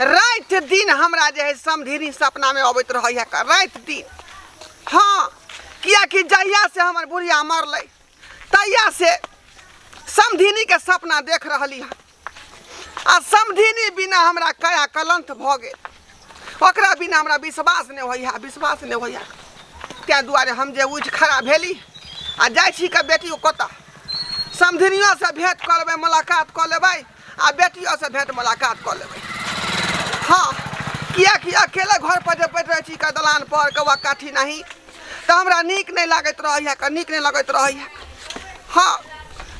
राति दिन हमरा जे है समधिनी सपना में अबैत रहे है राति दिन हाँ कियाकि जहिया से हमर बुढ़िया मरल तहिया से समधिनी के सपना देख रही है आ समधिनी बिना हमरा कया कलंत भ गए ओकरा बिना हमरा विश्वास नहीं होइया विश्वास नहीं होइया तै दुआरे हम जे उठ खड़ा भेली आ जाइ छी के बेटी कतऽ समधिनियोसँ भेँट कऽ लेबै मुलाकात कऽ लेबै आ बेटियो से भेंट मुलाकात कऽ लेबै हाँ किएकि अकेले घर पर जे बैठ रहै छी का दलान पर कौआ काठी नहीं तऽ हमरा नीक नहि लागैत रहैए कऽ नीक नहि लगैत रहैए हाँ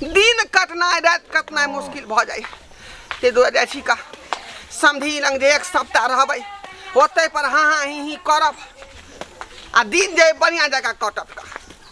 दिन कटनाइ राति कटनाइ मुश्किल भऽ जाइए ताहि दुआरे जाइ छी का समधी लग जे एक सप्ताह रहबै ओतै पर हाँ हाँ ही ही करब आ दिन जे बढ़िआँ जकाँ कटत का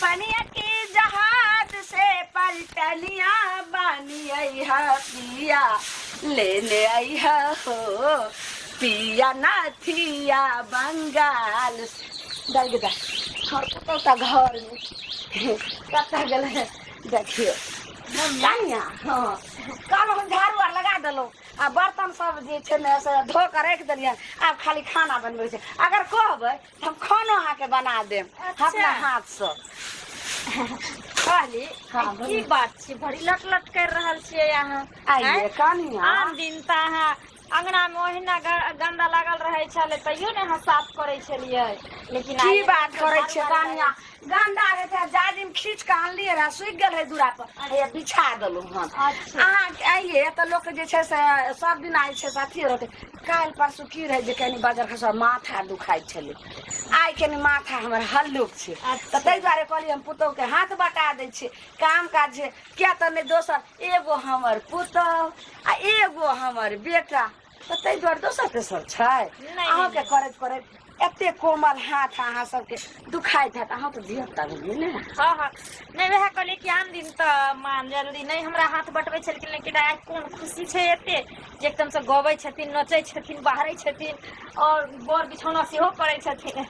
पनिया की जहाज से पलटनिया बानी आई है पिया लेने आई है हो पिया नाथिया बंगाल से। डाल के दा और कतौ ता घर में कतौ गेल है देखियो कनिया हाँ कल हम झाड़ू आर लगा देलहुँ आ बर्तन सब जे छै ने से धो के राखि देलियै आब खाली खाना बनबै छै अगर कहबै हम खाना अहाँके बना देब अच्छा। अपना हाथसँ कहली हाँ, ई की बात छै बड़ी लट लट कर रहल छियै अहाँ आइए आँय? कनिया आन दिन तऽ अहाँ अंगना मे ओहिना ग- गंदा लागल रहै छलै तैयो ने अहाँ साफ करै छलियै लेकिन आइ की बात एकदम करै छियै बार-बार कनिया गंदा रहै तऽ जाजिम खींच कऽ आनलियै रहा सुखि गेल रहै दूरा पर हैया बिछा देलहुँ हन अच्छा। अहाँ अइए तऽ लोक जे छै से सब दिन आइ छै से अथी रहतै काल्हि परसू की रहै जे कनि बजर खसा माथा दुखाइ छलै आइ कनि माथा हमर हल्लुक छै तऽ ताहि दुआरे कहलियै हम पुतहुके हाथ बटा दै छियै काम काज छै किया तऽ नहि दोसर एगो हमर पुतहु आ एगो हमर बेटा तऽ ताहि दुआरे दोसर तेसर छै नहि, अहाँके करैत करैत एते कोमल हाथ अहाँ सबके दुखाइत हैत अहाँ तऽ धियापुता भेलियै ने हँ हँ नहि वएह कहलियै कि आन दिन तऽ मान जरूरी नहि हमरा हाथ बटबै छलखिन लेकिन आइ कोन खुशी छै एते जे एकदम से गबै छथिन नचै छथिन बाहरै छथिन और बर बिछौना सेहो करै छथिन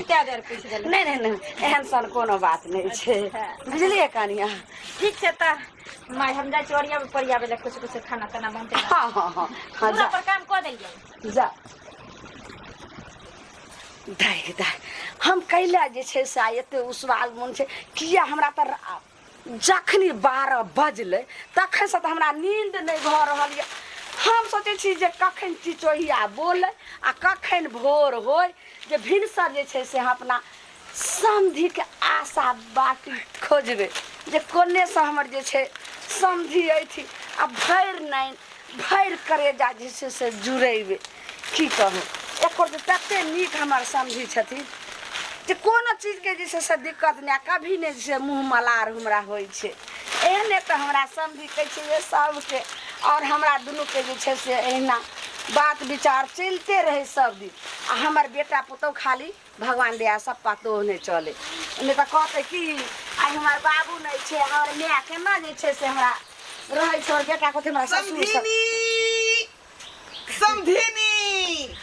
कए बेर पूछि देलहुँ नहि नहि नहि एहन सन कोनो बात नहि छै अच्छा। बुझलियै कनिया ठीक छै तऽ माय हम जाइ छी ओरियाबे परियाबे लए किछु किछु खाना ताना बनतै हँ हँ हँ हँ पूरा जा पर काम कऽ देलियै जा दाय दाय हम कैला जे छै से आइ एते उसवाल मोन छै किया हमरा तऽ रा- जखनी बारह बजलै तखनसँ तऽ हमरा नींद नहि भऽ रहल यऽ हम सोचै छी जे कखन चिचोहिया बोलै आ कखन भोर होय जे भिनसर जे छै से हम अपना समधिके आशा बाटी खोजबै जे कोनेसँ हमर जे छै समधि अइथि आ भरि नाइन भरि करेजा जे छै से जुड़ेबै की कहू एकर जे तते नीक हमर समधि छथिन जे कोनो चीजके जे छै से दिक्कत नहि कभी नहि जे छै मुँह मलार हमरा होइ छै एहने तऽ हमरा समधि कहै छै जे सभके आओर हमरा दुनूके जे छै से एहिना बात विचार चलिते रहै सभदिन आ हमर बेटा पुतहु खाली भगवान दया सब पतो नहि चले नहि तऽ कहते कि आइ हमर बाबू नहि छै हमर माय केना जे छै से हमरा रहै छै बेटा कहते हमरा ससुर समधिनी समधिनी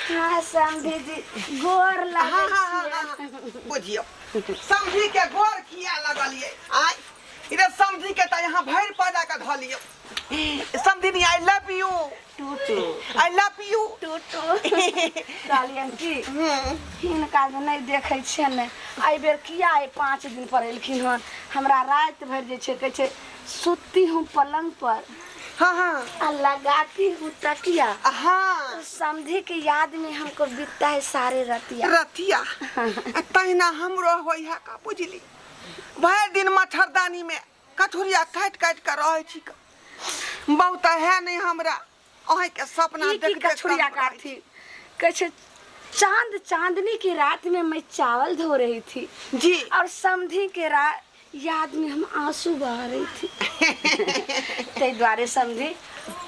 हाँ समधी जी गोर लगे छियै बुझियो समधी के गोर किया लगलिए आइ इधर समधी के त यहाँ भरि पैदा के धलियो समधिनी आई लव यू टूटू आई लव यू टूटू कहलियन की हिनका जे नहि देखै छियै ने एहि बेर किया एहि पाँच दिन पर एलखिन हन हमरा राति भरि जे छै कहै छै सुती हूँ पलंग पर हाँ हाँ आ लगाती हूँ तकिया हाँ समझी के याद में हमको बीतता है सारे रतिया रतिया आ तहिना हमरो होई है का बुझली भरि दिन मच्छरदानी में कथुरिया काटि काटि कऽ रहै छी क। बहु तऽ है नहि हमरा अहीं के सपना ई की देख देख कछुरिया कऽ काटथि कहै छै चाँद चाँदनी की रात में मैं चावल धो रही थी जी और समधी के रा याद में हम आंसू बहा रही थी ताहि दुआरे समधी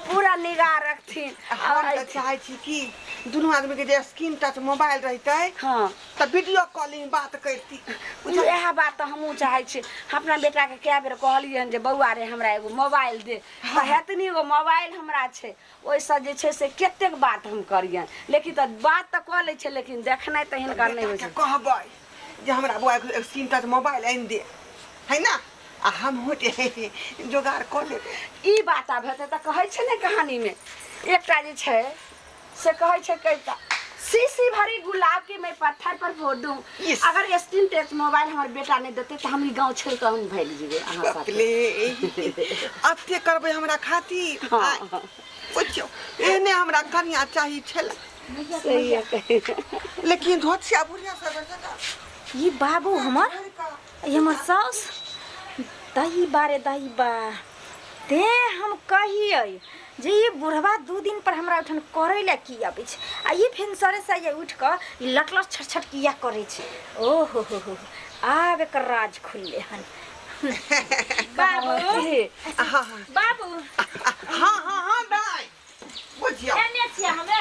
पूरा निगाह रखथिन हम आओर तऽ चाहै छी कि दुनू आदमी के जे स्क्रीन टच मोबाइल रहितै हँ तऽ वीडियो कॉलिंग बात करती बुझल इएह बात तऽ हमहूँ चाहै छी हम अपना बेटाके कए बेर कहलियै हन जे बौआ रे हमरा एगो मोबाइल दे तऽ हेतनी एगो मोबाइल हमरा छै ओहिसँ जे छै से कतेक बात हम करियनि लेकिन तऽ बात तऽ कऽ लै छै लेकिन देखनाइ तऽ हिनका नहि होइ बेटाके छै कहबै जे हमरा बौआ एगो सिम टच मोबाइल आनि दे है ना आ हमहूँ जे जोगाड़ कऽ लेबै ई बात आब हेतै तऽ कहै छै ने कहानीमे एकटा जे छै से कहै छै कविता शीशी भरी गुलाब के मैं पत्थर पर फोड़ दूं Yes. अगर स्क्रीन टच मोबाइल हमर बेटा नहीं देते तो हम ई गांव छोड़ के हम भाग जीवे अहाँ साथे अपने अते करबै हमरा खातिर हाँ। आय, सोचियौ एहने हमरा कनिया चाही छल सही है लेकिन धोतिया बुढ़िया सब जका ई बाबू हमर ई हमर साउस दही बारे दही बा ते हम कहिए जे ई बुढ़वा दू दिन पर हमरा उठन करे ले की आबै छै आ ई फेन सरे से ये उठ कऽ ई लटलट छटछट किया करे छै ओ हो हो हो आब एकर राज खुलले हन बाबू हाँ हाँ बाबू हाँ हाँ हाँ दाई बुझियौ केने छियै हमे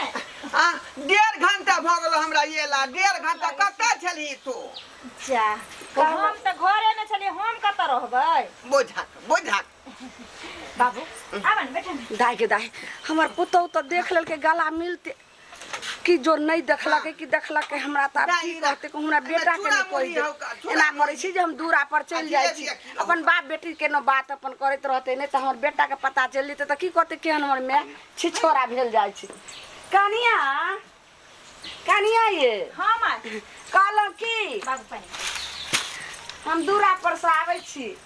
आ डेढ़ घंटा भऽ गेलो हमरा ये ला डेढ़ घंटा कतऽ छलही तू जा हम तऽ घरे में छलियै हम कतऽ रहबै बुझक बुझक बाबू आबन बैठन दाय के दाय हमर पुतौ तऽ देख लेलकै गला मिलते कि जो नहि देखलकै कि देखलकै हमरा तऽ आब की कहतै कि हमरा बेटाके नहि कहि दे एना करै छी जे हम दूरा पर चलि जाइ छी अपन बाप बेटीके ने बात अपन करैत रहतै नहि तऽ हमर बेटाके पता चलि जेतै तऽ की कहतै केहन हमर माय छी छोरा भेल जाइ छै कनिया कनिया ये हाँ माँ कहलहुँ की बाबू पानी हम दूरा पर से आबै छी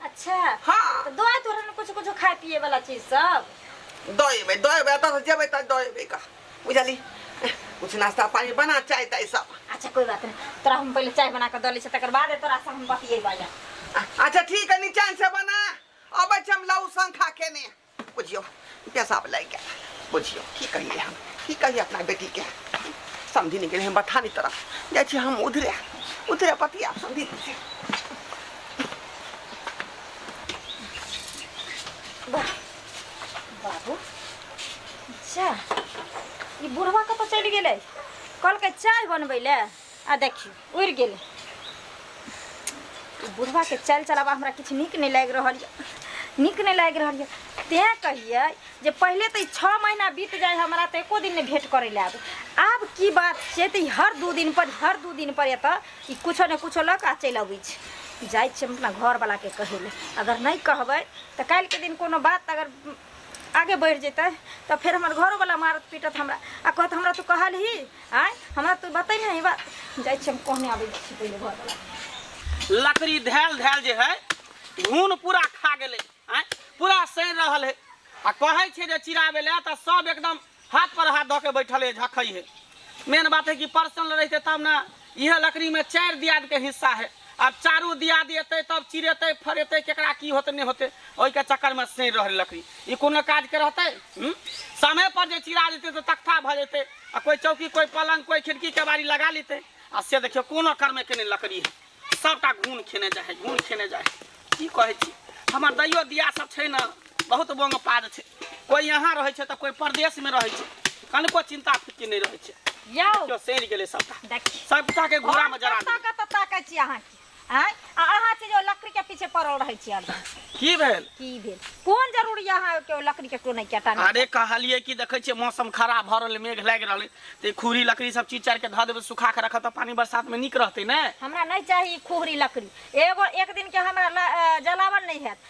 अच्छा हाँ। तो दो तो रहन कुछ कुछ खाए पिए वाला चीज सब दएबे दएबे एतऽ से जेबै तऽ दएबे का बुझली कुछ नाश्ता पानी बना चाय ताय सब अच्छा कोई बात नहीं तोरा हम पहले चाय बना के दऽ लै छी तकर बाद तोरा से हम बतियेबै आ- अच्छा ठीक है निचान से बना अबै छी हम लहू संखा खेने बुझियौ पैसा वाला के बुझियौ की कहिए हम की कहिए अपना बेटी के समझी नहीं गेल बथानी तरफ जाइ छी हम उधरे उधरे पतिया समझी नहीं बाबू जा ई बुढ़वा कतऽ चलि गेलै कहलकै चाय बनबै लए आ देखियो उड़ गेल बुढ़वा के चल चलावा हमरा किछु नीक नहि लागि रहल यऽ नीक नहि लागि रहल यऽ तेँ कहियै जे पहिले तऽ ई छओ महीना बीत जाए हमरा तऽ एको दिन नहि भेंट करै लए आबै आब की बात छै तऽ ई हर दू दिन पर हर दू दिन पर एतऽ ई कुछो ने कुछो लऽ कऽ आ चलि अबै छै जाइ छियै हम अपना घरवलाके कहै लए अगर नहि कहबै तऽ काल्हिके दिन कोनो बात अगर आगे बढ़ि जेतै तऽ फेर हमर घरोवला मारत पीटत हमरा आ कहत हमरा तू कहलही आय हमरा तू बतै ने ई बात जाइ छी हम कहने आबै छी पहिले घर वाला लकड़ी धैल धैल जे है घून पूरा खा गेलै आँय पूरा सड़ि रहल है आ कहै छै जे चिराबे लए तऽ सब एकदम हाथ पर हाथ धऽ के बैठल है झखै है मेन बात है कि पर्सनल रहते तब ने इहे लकड़ी में चारि दियाद के हिस्सा है आब चारू दियाद एतै तब चिरेतै फरेतै केकरा की होतै नहि होतै ओहिके चक्कर में सड़ि रहल लकड़ी ई कोनो काज के रहतै हूँ? समय पर जे चिरा जेतै तऽ तख्ता भऽ जेतै आ कोई चौकी कोई पलंग कोई खिड़की केबाड़ी लगा लेते आ से देखियो कोनो कर्मे केने लकड़ी है सबटा घून खेने जाए घून खेने जाए की कहे छी हमर दैयो दिया सब छै न बहुत बोंग पाद छै कोई यहाँ रहे छै त कोई प्रदेश में रहे छै कनको चिंता फिक्र नहीं रहे छै यौ क्यों सेर गेले सबटा देखी सबटा के घूरा में जरा कतऽ कतऽ ताकै छी अहाँ की आँय आ अहाँ छी जे ओ लकड़ीके पीछे पड़ल रहै छी हरदम की भेल की भेल कोन जरूरी यऽ अहाँके ओ लकड़ीके टोनै के टानै अरे कहलिए कि देखै छियै मौसम खराब भऽ रहलै मेघ लागि रहलै तऽ ई खूरी लकड़ी सब चीज चारि के धऽ देबै सुखा के रखब तऽ पानी बरसात में नीक रहतै ने हमरा नहि चाही ई खुहरी लकड़ी एगो एक दिन के हमरा ल- अ, जलावन नहि हैत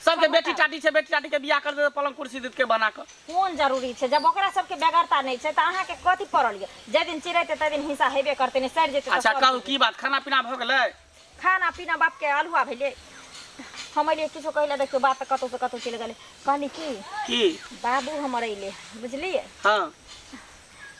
सबके सब बेटी पता टाटी छै बेटी टाटी के बियाह कर देतै पलंग कुर्सी देतके बना कऽ कोन जरूरी छै जब ओकरा सबके बेगरता नहि छै तऽ अहाँके कथी पड़ल यऽ जाहि दिन चिड़ेतै ताहि दिन हिंसा हेबे करतै नहि सड़ि जेतै तऽ अच्छा सड़ि कहू जेतै। की बात खाना पीना भऽ गेलै खाना पीना बापके अलहुआ भेलै हम अलियै किछो कहै लए देखियौ बात तऽ कतहुसँ कतहु चलि गेलै कहली की की बाबू हमर अयलै बुझलियै हँ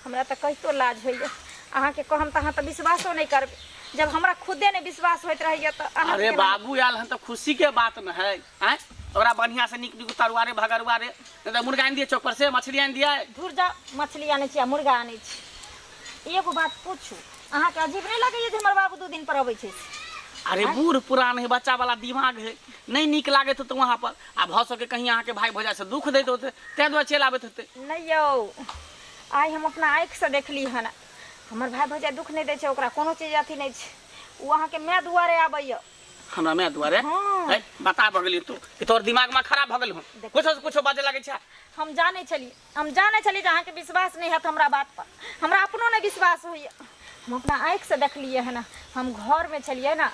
हमरा तऽ कहितो लाज होइए अहाँके कहम तऽ अहाँ तऽ विश्वासो नहि करबै जब हमरा खुदे नहि विश्वास होइत रहैए तऽ अहाँ अरे बाबू आयल हन तऽ खुशी के बात न है आय ओकरा बढ़िया से निक निक तरुआ रे भगरुआ रे नहीं तो मुर्गा आनि दिए चौक पर से मछली आनि दिए धुर जा मछली आनै छी आ मुर्गा आनै छी एगो बात पूछू अहाँके अजीब नहि लगैए जे हमर बाबू दू दिन पर अबै छै अरे बूढ़ पुरान है बच्चा वाला दिमाग है नहीं निक लागे तो वहाँ पर आ भऽ सके कहीं अहाँके भाई भौजाई से दुख दैत होते तै दुआरे चलि आबैत होते नहि यौ आइ हम अपना आँखिसँ देखली हन हमर भाय भौजाइ दुख नहि दै छै ओकरा कोनो चीज अथी नहि छै ओ अहाँके माय दुआरे आबैए हमरा माय दुआरे हाँ। है बता भऽ गेली तू कि तोहर दिमाग में खराब भऽ गेल हूँ देखियौ। कुछो से कुछो बाजे लागै छै हम जानै छलियै हम जानै छलियै जे अहाँके विश्वास नहि हैत हमरा बातपर हमरा अपनो नहि विश्वास होइए हम अपना आँखिसँ देखलियै हँ हम घरमे छलियै ने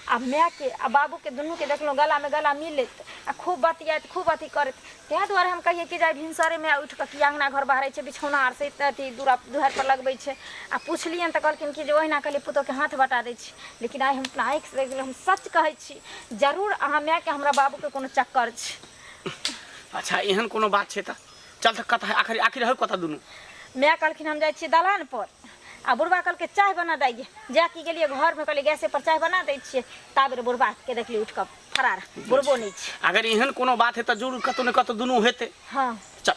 आ मायके आ बाबूके दुनूके देखलहुँ गलामे गला मिलैत आ खूब बतियाइत खूब अथी करैत ताहि दुआरे हम कहियै कि जे भिनसरेमे उठि कऽ कि अङ्गना घर बहारै छै बिछौना आर से अथी दूरा दुहारिपर लगबै छै आ पुछलियनि तऽ कहलखिन कि जे ओहिना कहलियै पुतोके हाथ बटा दै छी लेकिन आइ हम अपना आँखिसँ देखलहुँ हम सच कहै छी जरूर अहाँ मायके हमरा बाबूके कोनो चक्कर छै अच्छा एहन कोनो बात छै तऽ चल तऽ कतऽ आखिर आखिर हर कतऽ दुनू माय कहलखिन हम जाइ छियै दलान पर आ बुढ़बा कहलकै चाय बना दैए जा कि गेलियै घरमे कहलियै गैसे पर चाय बना दै छियै ता बेर बुढ़बाके देखलियै उठि कऽ फरार बुढ़बो नहि छै अगर एहन कोनो बात हेतै जरूर कतौ ने कतौ दुनू हेतै हँ चल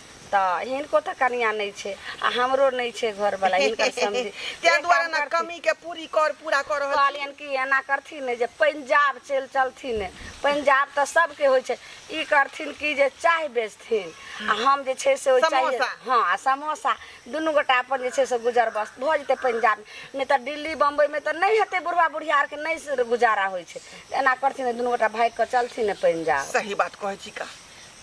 तऽ हिनको तऽ कनिया नहि छै आ हमरो नहि छै घर वाला हिनकर समझी ताहि एक दुआरे काम ने करथिन। कमी के पूरी कर पूरा कर रहल कहलियनि कि एना करथिन ने जे पंजाब चलि चलथिन ने पंजाब तऽ सभके होइ छै ई करथिन कि जे चाय बेचथिन आ हम जे छै से ओहि चाय समोसा। हँ आ समोसा दुनू गोटा अपन जे छै से गुजर बस भऽ जेतै पंजाब नहि तऽ दिल्ली बम्बइमे तऽ नहि हेतै बुढ़वा बुढ़िया आरके नहि से गुजारा होइ छै एना करथिन ने दुनू गोटा भागि कऽ चलथिन ने पंजाब सही बात कहै छी का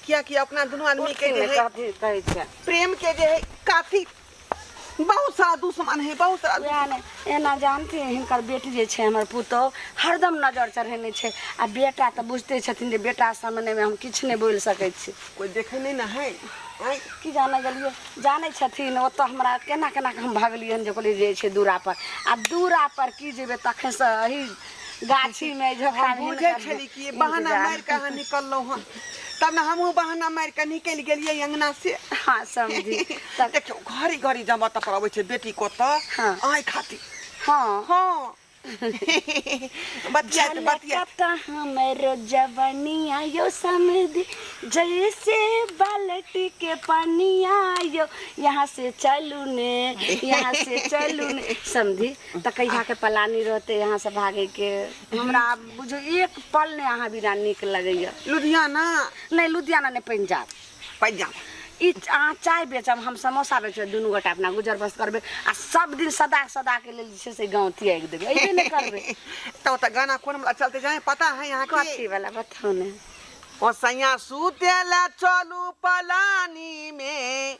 कियाकि अपना दुनू आदमी के जे है कहै छै प्रेम के जे है काफी बहुत सारा दुश्मन है बहुत सारा वएह ने एना जानते हिनकर बेटी जे छै हमर पुतहु हरदम नजर चढ़ेने छै आ बेटा तऽ बुझते छथिन जे बेटा सामनेमे हम किछु नहि बोलि सकै छी कोई देखे नहीं ना है आँय? की जाने गेलियै जानै छथिन ओतऽ हमरा केना केना कऽ हम भगलियै हन जे कहलियै जे छै दूरा पर आ दूरा पर की जेबै तखनसँ एही गाछी में झोपड़ा हम में बुझै हिनकर छली कि ई बहाना इंतजार। मारि कऽ अहाँ निकललहुँ हँ तब ने हमहूँ बहाना मारि कऽ निकलि गेलियै अङ्गना से हाँ समझी तब देखियौ घड़ी घड़ी जमा तपर अबै छै बेटी को तऽ हाँ। आँय खातिर हाँ हँ बतियाइत बतियाइत झलकता हमरो जवनिया यो समझी जैसे बाल्टी के पनिया यो यहाँ से चलू ने यहाँ से चलू ने समझी तऽ कहिया के पलानी रहते यहाँ से भागे के हमरा आब बुझो एक पल ने अहाँ बिना नीक लगैया लुधियाना नहीं लुधियाना नहीं पंजाब पंजाब ई अहाँ चाय बेचब हम समोसा बेचब दुनू गोटा अपना गुजर बस करबै आ सब दिन सदा सदा के लेल जे छै से गाँव तियागि देबै अइबे नहि करबै तो ओतऽ गाना कोन वाला चलते जाए पता है यहाँ के कथी वाला बताउ ने ओ सैया सुते ला चलू पलानी में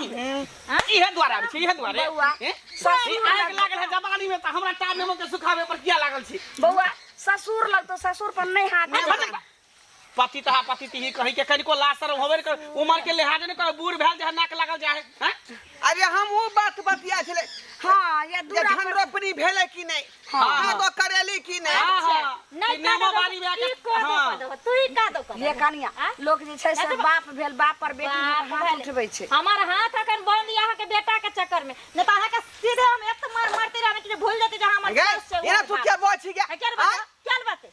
इहे द्वारा आबै छै इहे द्वारे बौआ, ए? ई आगि लागल है जवानी में तऽ हमरा टार नेमो के सुखावे पर किया लागल छी बौआ ससुर लग तो ससुर पर नहीं हाथ अरे देबा। भटक बा। पति तहा पति तिही कही के कनिको लाज शरम होबे ने कर उमर के लिहाज ने कर बूढ़ भेल जे नाक लागल जाए हैं अरे हम वो बात बतिया छले हाँ ये ये दूरा धन पर रोपनी भेले कि नहीं हाँ, हाँ, हाँ। तो करेली की नहीं हाँ, हाँ। नहीं नेमो बारी में आके हाँ। तू ही का दो कर ये कनिया लोग जे छै से बाप भेल बाप पर बेटी बाप हाथ भेल। उठबै छै हमार हाथ अखन बंद यहाँ के बेटा के चक्कर में न तो अहाँ के सीधे हम एत मार मारते रहबे कि जे भूल जेते जे हमर गे केस छै, ये ना उमर तू बाप। क्या बोची क्या है, क्या रे बता? क्या रे बाते?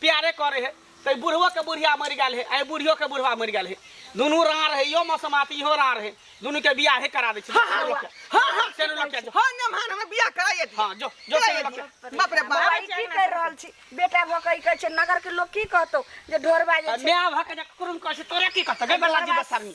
प्यारे करे है ते बुढ़वो के बुढ़िया मर गया है आई बुढ़ियो के बुढ़वा मर गया है दोनों राह रहे यो मौसम आती हो राह रहे दोनों के बियाह है करा दे छी हाँ, हाँ, हाँ, हाँ, चलो लोग के जो। हाँ ना मान हमरा बियाह कराइए दी हां जो जो चलो लोग के बाप रे बाप बाबा ई की कर रहल छी बेटा भऽ कऽ ई कहै छै नगर के लोग की कहतौ जे ढोरबा जे छै न्याय भक जा कुरुम कह से तोरा की कहत गबला जी बसामी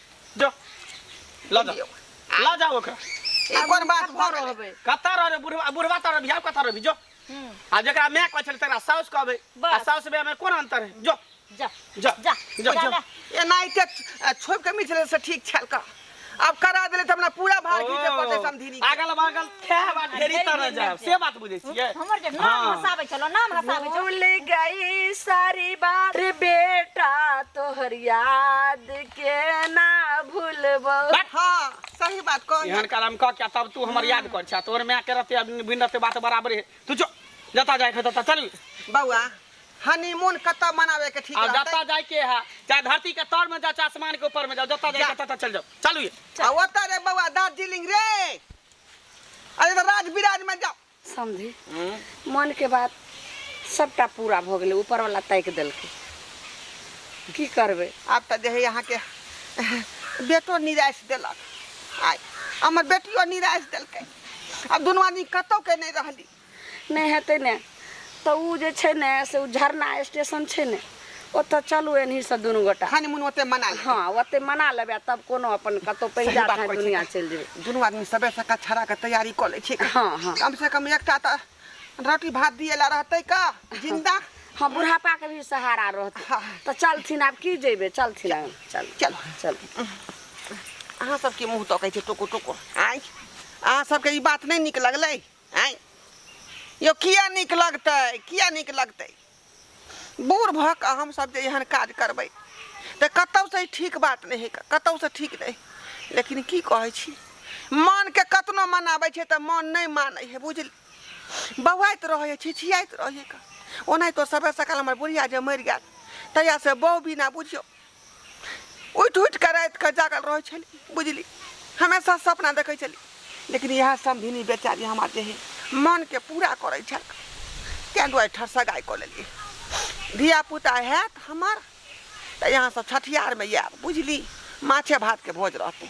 जो ला जा ला जा ओकरा ई कोन बात भऽ गेल रहबै कतऽ रहबे बुढ़वा बुढ़वा तर बियाह कतऽ रहबी जो हम्म, आ जकरा माय कहै छलै तकरा साउस कहबै आ बस। साउस माय में कोन अंतर है जो जा जा जा जो जा, जो जा। एनाहिते छोड़ के मिथिले से ठीक छल का अब करा देले त हमरा पूरा भार घीचे पड़ते समधिनी के। अगल बगल खाए बात ढेरी तरह जाएब से बात बुझै छियै हमर जे नाम हाँ। हसाबै छलो नाम हसाबै छलो भूल गई सारी बात रे बेटा तोहर याद के ना भूलबो हाँ सही बात कह एहन कालम कह क्या तब तू हमर याद कर छा तोहर माय के रहते अब बिन रहते बात बराबर है तू जो जता जाए खत चल बउआ हनीमून कत मनावे के ठीक आ जता जाए के है चाहे धरती के तर में जा चाहे आसमान के ऊपर में जाओ जता जाए खत चल जाओ चलू ये आ ओता रे बउआ दार्जिलिंग रे अरे तो राज विराज में जाओ समझी मन के बात सबटा पूरा भऽ गेलै ऊपर वाला ताकि देलकै की करबै आब तऽ जे है अहाँके बेटो निराश देलक आ हमर बेटियो निराश देलकै आब दुनू आदमी कतौ के नहि रहली नहि हेतै ने तऽ ओ जे छै ने से ओ झरना स्टेशन छै ने ओतऽ चलू एनही से दुनू गोटा खानी मुन ओते मना ले हँ ओते मना लेबै आ तब कोनो अपन कतौ सही पैसा बात चाहे करै दुनिया छी। चलि जेबै दुनू आदमी सबे से कछड़ा के तैयारी कऽ लै छी हँ, हँ। कम से कम एकटा तऽ रोटी भात दिए ला रहतै का जिंदा हँ बुढ़ापा के भी सहारा रहतै हँ। तऽ चलथिन आब की जेबै चलथिन आब चल चल चल अहाँ सबके मुँह तकै छै टोको टोको आँय अहाँ सबके ई बात नहि नीक लगलै आँय यौ किया नीक लगतै किया नीक लगतै बूढ़ भऽ कऽ हमसभ जे एहन काज करबै तऽ कतहुसँ ठीक बात नहि हेतै कतहुसँ ठीक नहि लेकिन की कहै छी मनके कतनो मनाबै छै तऽ मन नहि मानै हे बुझल बौआइत रहै छिछियाइत रहै ओनाहितो सबे सकाल हमर बुढ़िया जे मरि गेल तहियासँ बौ बिना बुझियौ उठि उठि कऽ राति कऽ जागल रहै छली बुझली हमेशा सपना देखै छली लेकिन इएह समधिनी बेचारी हमर जे है मनके पूरा करै छल ताहि दुआरे ठर सगाइ कऽ लेलियै धियापुता हैत हमर तऽ यहाँसँ छठियारमे आयब बुझली माछे भातके भोज रहतै